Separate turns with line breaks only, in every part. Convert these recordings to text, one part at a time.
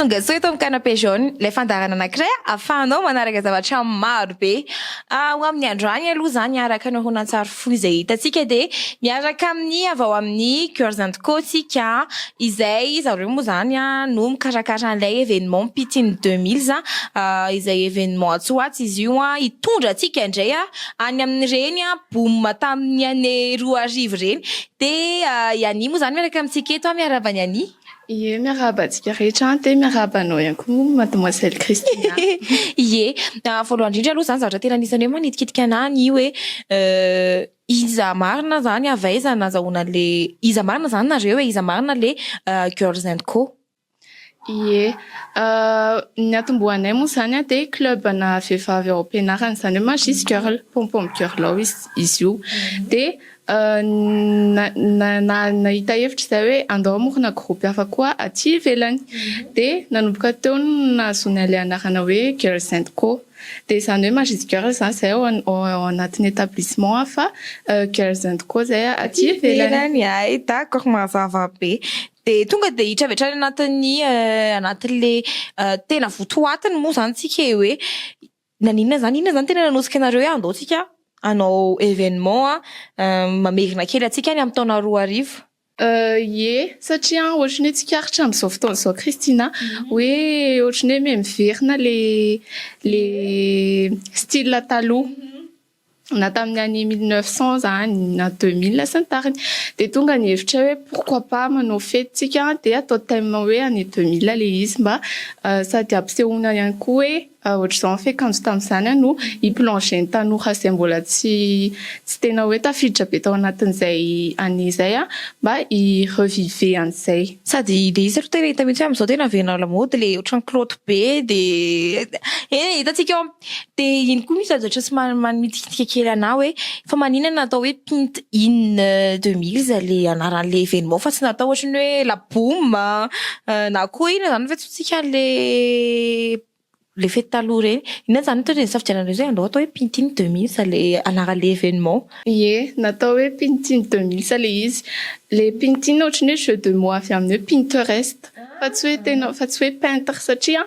Tongasoa eto amin'ny Canapé Jaune, ilay fandaharana anankiray ahafahanao manaraka zavatra maro be. Ho amin'ny andro any aloha izany, araka ny horonantsary fohy izay hitantsika, dia miaraka amin'ny avy ao amin'ny Girls and Co isika, izay izy ireo moa izany no mikarakara an'ilay événement Pitiny deux milles, izay événement atsy ho atsy izy io, hitondra antsika indray any amin'ireny boom tamin'ny année roa arivo ireny. Dia i Anie moa izany miaraka amintsika eto, miarahaba an'i Anie. Ie, miarahaba
antsika rehetra any, dia miarahaba anao ihany koa moa Mademoiselle Christina. Ie,
voalohany indrindra aloha izany zavatra tena anisan'ny hoe manitikitika anahy ny hoe iza marina izany, avy aiza nazahoana an'ilay, iza marina izany nareo e, iza marina ilay Girls and Co. Ie,
ny niatombohanay moa izany dia club ana vehivavy ao am-pianarana, izany hoe Magis Girl, Pom Pom Girl ao izy io. Dia Nahita hevitra izay hoe andao hamorona groupe hafa koa aty ivelany dia nanomboka teo no nahazoany an'ilay anarana hoe Girls and Co dia izany hoe Majesty Girls izany izay ao anatin'ny établissement hafa Girls and Co izay aty ivelany. Hay d'accord
mazava be. Dia tonga dia hiditra avy hatrany anatin'ny anatin'ilay tena votoatiny moa izany isika e hoe Naninona izany? Inona izany tena nanotsika anareo hoe andao tsika hanao événement mamerina kely antsika any amin'ny taona roa arivo? Ie,
satria ohatran'ny hoe tsikaritra amin'izao fotoana izao Christina hoe ohatran'ny hoe miverina le le style taloha. na tamin'ny année mille neuf cent zany na deux mille sy ny tariny dia tonga ny hevitra hoe pourquoi pas manao fety tsika dia atao thème hoe année deux mille le izy mba sady hampisehoana ihany koa hoe ohatr'izao ny fiakanjo tamin'izany no hi plonger ny tanora izay mbola tsy tsy tena hoe tafiditra be tao anatin'izay année izay an mba hi reviver an'izay. Sady dia izy ro
tena hita mihitsy hoe amin'izao tena avela lamaody le ohatran'ny kilaoty be dia eny e hitantsika eo amin'ny. Dia iny koa misy lazatrao sy manitikitika kely anah hoe fa manina no atao hoe pint in deux milles ilay anaran'ilay événement fa tsy natao ohatry ny hoe la boum na koa inona izany fa antsointsika an'ilay ilay fety taloha ireny. Inona izany hoatran'izay nisafidiananareo izay andao atao hoe pint in deux milles ilay anaran'ilay événement? Ie, natao
hoe pint in deux milles ilay izy. Ilay pint in ohatry ny hoe jeu de mots avy amin'ny hoe pinterest fa tsy hoe tena fa tsy hoe peintre satria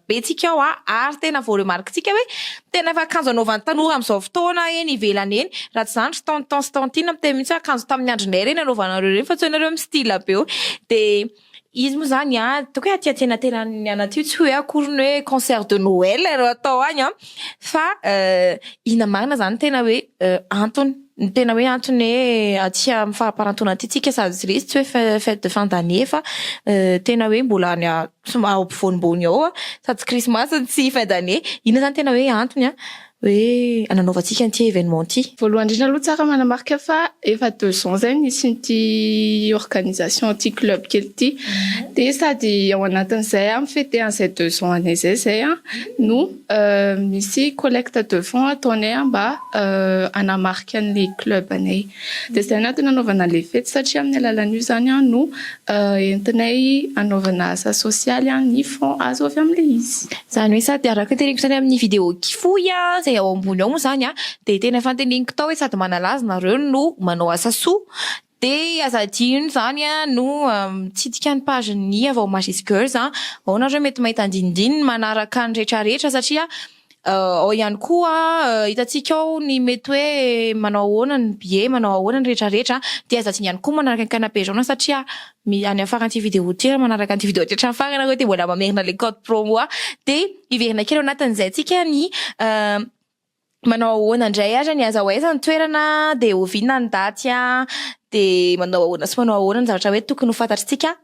Betsika ao a! ary tena voaremarquentsika hoe tena efa akanjo anaovan'ny tanora amin'izao fotoana eny ivelany eny, raha tsy izany ry tonton sy tantine miteny mihitsy hoe akanjo tamin'ny andronay ireny anaovanareo ireny fa tsy hainareo mi style be eo dia izy moa izany a! ataoko hoe aty antsenatenan'ny anat io tsy ho eo akory ny hoe concert de noel ireo atao any an! fa inona marina izany ny tena hoe antony ny tena hoe antony hoe aty amin'ny faramparantaona aty tsika sady tsy hoe fete de fin d'annee fa tena hoe mbola any Tsy mba ao ampovoany mbony ao an! Sady tsy krismasy no tsy fin d'année! Inona izany tena hoe antony an! hoe ananaovantsika an'ity événement ity? Voalohany indrindra aloha tsara
manamarika fa efa deux ans izay no nisian'ity organisation ity club kely ity dia sady ao anatin'izay an mi-feter an'izay deux ans anay izay izay an no misy collecte de fonds ataonay mba hanamarika an'ilay club anay. Dia izay no antony hanaovana ilay fety satria amin'ny alalan'io izany no entinay hanaovana asa sosialy ny fonds azo avy amin'ilay izy. Izany hoe sady araka
ny teneniko izany amin'ny vidéo ki fohy izay ao ambony ao moa izany dia tena fanteneniko tao hoe sady manala azy nareo no manao asa soa dia aza adino izany no mitsidika ny page ny Avao Majesty Girls ao nareo mety mahita andinindininy manaraka ny retraretra satria Ao ihany koa hitantsika ao ny mety hoe manao ahoana ny billet, manao ahoana ny rehetra rehetra dia aza adino ihany koa manaraka ny canapé jaune satria any amin'ny faran'ity vidéo ity raha manaraka an'ity vidéo ity hatramin'ny farany ianareo dia mbola mamerina ilay code promo dia hiverina kely ao anatin'izay antsika ny manao ahoana indray ary ny aiza ho aiza ny toerana dia oviana ny daty dia manao ahoana sy manao ahoana ny zavatra hoe tokony ho fantatrintsika.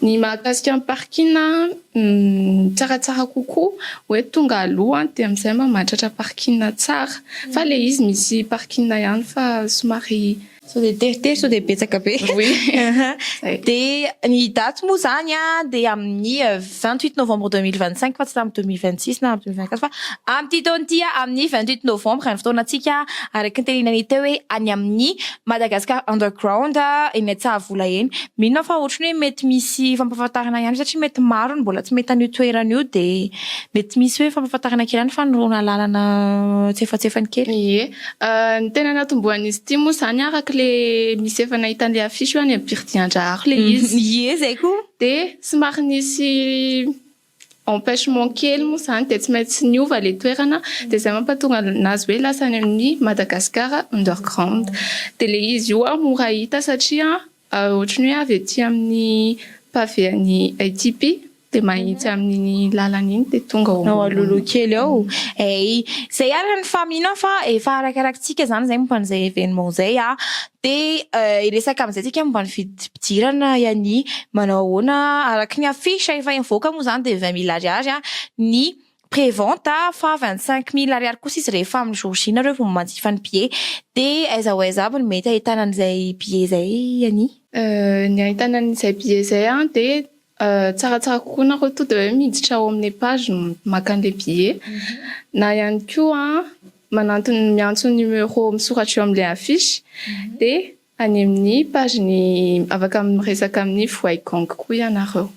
Ny mahakasika ny parking tsaratsara kokoa hoe tonga aloha dia amizay mba mahatratra parking tsara fa le izy misy parking ihany fa somary sao dia teritery
sao dia betsaka be dia ny date moa zany dia amin'ny vingt huit novembre deux mille vingt cinq fa tsy amin'ny deux mille vingt six na deux mille vingt quatre fa amin'ity taona ity amin'ny vingt huit novembre ny fotoanantsika araka ny tenenanay teo hoe any amin'ny Madagascar underground eny Antsahavola eny. Mino aho fa ohatry ny hoe mety misy fampahafantarana ihany satria mety maro ny mbola tsy mahita an'io toerana io dia mety misy hoe fampahafantarana kely ihany fanolorana lalana antsefatsefany kely. Ie,
ny tena natombohan'izy ity moa izany araka ilay misy efa nahita an'ilay affiche eo any amin'ny Biridiandraharo ilay izy. Ie, izay koa.
Dia somary
nisy. empêchement kely moa izany dia tsy maintsy niova ilay toerana dia izay mampatonga an'azy hoe lasa any amin'ny Madagascar underground dia ilay izy io aho mora hita satria ohatry ny hoe avy aty amin'ny pavé an'i ATP dia mahitsy amin'iny lalana iny dia tonga ao ao alohaloha kely
ao eh! izay araka ny fahamainan fa efa arakarakintsika izany izay momba an'izay événement izay ah! Dia hiresaka amin'izay tsika momba ny fidiram-pidirana i Ania. Manao ahoana? Araka ny affiche efa nivoaka moa izany dia vingt mille ariary ny pré-vente fa vingt cinq mille ariary kosa izy rehefa amin'ny jour J nareo vao manjifa ny billet. Dia aiza ho aiza avy no mety ahitana an'izay billet izay Ania? Ny
ahitana an'izay billet izay dia Tsaratsara kokoa nareo to de hoe miditra ao amle page maka anle billet na ihany koa manantony miantso ny numero misoratra eo amle affiche de any amin'ny page ny afaka miresaka amin'ny voay gang koa ianareo.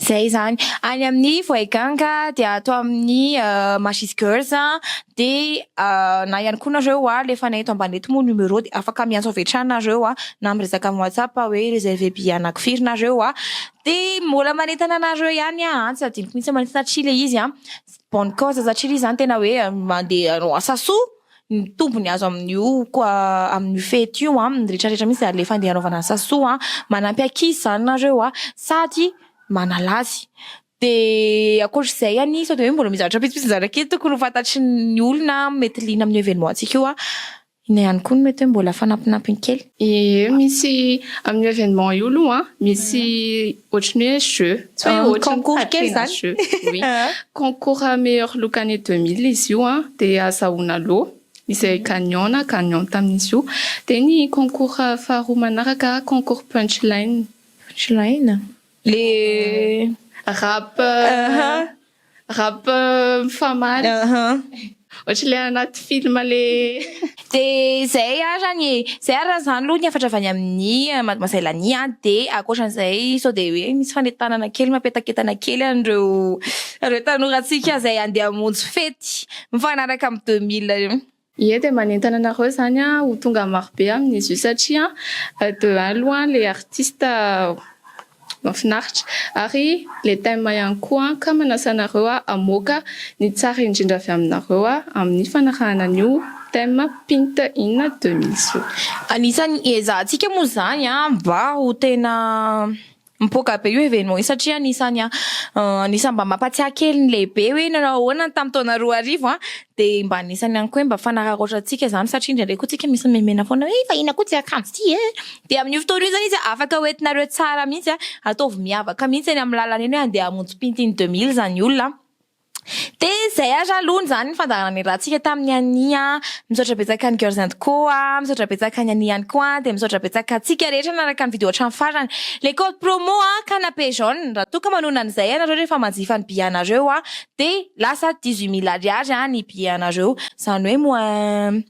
Zay
zany. Any amin'ny voay gang dia ato amin'ny Magis Girls dia na ihany koa nareo aho le fanay eto ambany eto moa numéro dia afaka miantso avy hatrany nareo aho na miresaka amin'ny whatsapp aho hoe reserve billet anako firy nareo aho dia mbola manentana anareo ihany aho an! tsy adinoko mihitsy manentana satria ilay izy an! bonne cause satria ilay izy izany tena hoe mandeha hanao asa soa ny tombony azo amin'io koa amin'io fety io an! ny rehetra rehetra mihitsy izany ilay fandeha hanaovana asa soa an! manampy ankizy izany nareo aho sady manala azy Dia ankoatra izay anie sao dia hoe mbola misy zavatra vitsivitsy nizara kely tokony ho fantatry ny olona mety liana amin'io événement antsika io an! Inona ihany koa no mety hoe mbola fanampinampiny kely? Ee, misy
amin'io événement io aloha an, misy ohatry ny hoe jeu, tsy hoe ohatry ny Concours kely fadiana izany? jeu,
oui,
concours meilleur look année deux mille izy io an, dia azahoana loha izay gagnant na gagnante amin'izy io, dia ny concours faharoa manaraka concours punchline. Punchline? Le rap rap mifamaly. Ohatry le anaty film le. De
zay ary zany e, zay ary zany aloha ny hafatra avy any amin'ny Mademoiselle Lani a, de ankoatran'izay sao de hoe misy fanentanana kely mapetaketana kely an'ireo ireo tanorantsika izay andeha hamonjy fety mifanaraka amin'ny deux mille. Ie dia manentana
anareo izany ho tonga marobe amin'izy io satria de un aloha ilay artiste mahafinaritra ary ilay thème ihany koa ka manasa anareo hamoaka ny tsara indrindra avy aminareo amin'ny fanarahana an'io thème Pint in deux mille io. Anisan'ny
hiezahantsika moa izany mba ho tena. Mipoaka be io événement io satria anisany anisany mba mampatsiahy kely ny lehibe hoe nanao ahoana ny tamin'ny taona roa arivo an, dia mba anisany ihany koa hoe mba fanararaotra antsika izany satria indraindray koa tsika misy memena foana hoe fahiny akoho tsy akanjo ity e! dia amin'io fotoana io izany izy afaka ho entinareo tsara mihitsy an, ataovy miavaka mihitsy eny amin'ny lalana eny hoe andeha hamonjy pintin'ny deux mille izany olona an. Dia izay ary aloha izany ny fandaharana niarahantsika tamin'i Anie an! Misaotra betsaka an'i Girls and Co an! Misaotra betsaka an'i Anie ihany koa an! Dia misaotra betsaka antsika rehetra nanaraka ny video hatramin'ny farany. Le code promo an! Canapé jaune! Raha toa ka manohana an'izay ianareo rehefa manjifa ny billet anareo an! Dia lasa dix-huit mille ariary an! ny billet anareo. Izany hoe moins.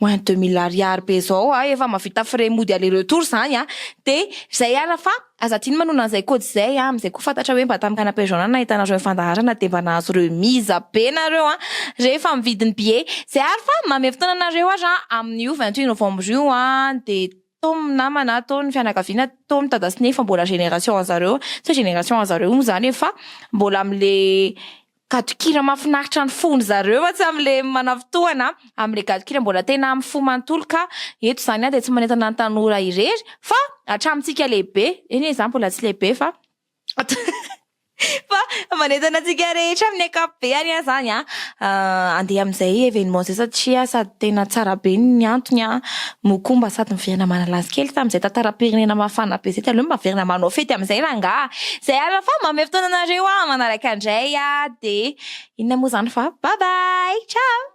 Moins deux mille ariary be zao a, efa mavita frais mody aller retour zany a, de zay ara fa aza adino manona an'izay code izay a, amzay koa fantatra hoe mba tam canapé jaune no nahitanareo ny fandaharana de mba nahazo remise be nareo a, rehefa mividy ny billet, zay ara fa manome fotoana anareo ara amin'io vingt huit novembre io a, de tao ny namana, tao ny fianakaviana, tao ny dada sy neny fa mbola génération anzareo, tsy hoe génération anzareo moa zany e fa mbola amle Gadon-kira mafinaritra ny fon-dry zareo atsy amin'ilay manavontohana amin'ilay gadon-kira mbola tena amin'ny fo manontolo ka eto izany dia tsy manentana ny tanora irery fa hatramintsika lehibe, eny e, izaho mbola tsy lehibe fa fa manentana antsika rehetra amin'ny ankapobeny aho izany an! handeha amin'izay événement izay satria sady tena tsara be ny antony an! Mokomba sady miverina manalazy kely tamin'izay tantaram-pirenena mafana be izay dia aleo maverina manao fety amin'izay rangaha izay alina fa manome fotoana anareo aho manaraka indray aho dia inona moa izany fa bye bye ciao.